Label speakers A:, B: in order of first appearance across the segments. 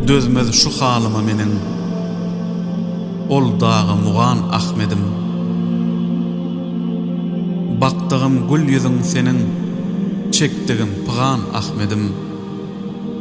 A: Dözmez şu halyma meniň Ol dagy mugan Ahmedim Bakdygym gül ýüzüň seniň Çekdigim pygan Ahmedim.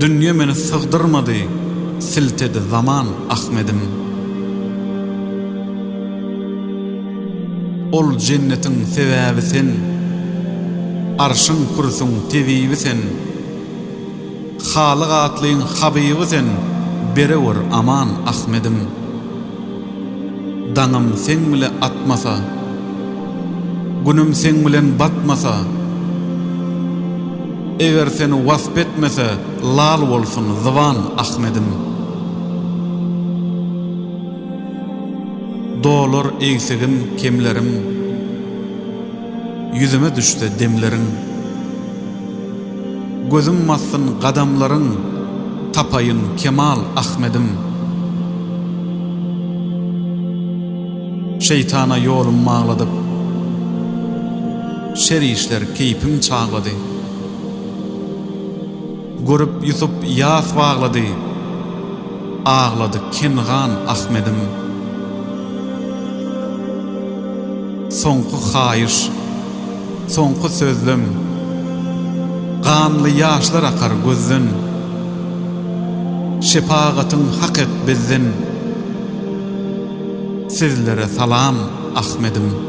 A: Dünýe meni sygdyrmady, siltedi zaman Ahmedim. Ol jennetiň sebäbi sen, arşyň-kürsüň tebibi sen, Halyk atlyň habyby sen, berewr aman Ahmedim. Daňym seň bile atmasa, Günüm seň bilen batmasa, Eger seni wasp etmese, Lal bolsun zyban Ahmedim. Dolar egsigim, kemlerim, Ýüzüme düşse demleriň. Gözüm bassyn gadamlaryň, tapaýyn kemal Ahmedim. Şeýtana ýolum magladyp, şer işler keýpim çaglady. Görüp Ýusup ýas baglady, aglady Kengan Ahmedim. Soňky haýyş. soňky sözlem Ganly ýaşlar akar gözden Şepagatyň hak et bizden Sizlere salam Ahmedim.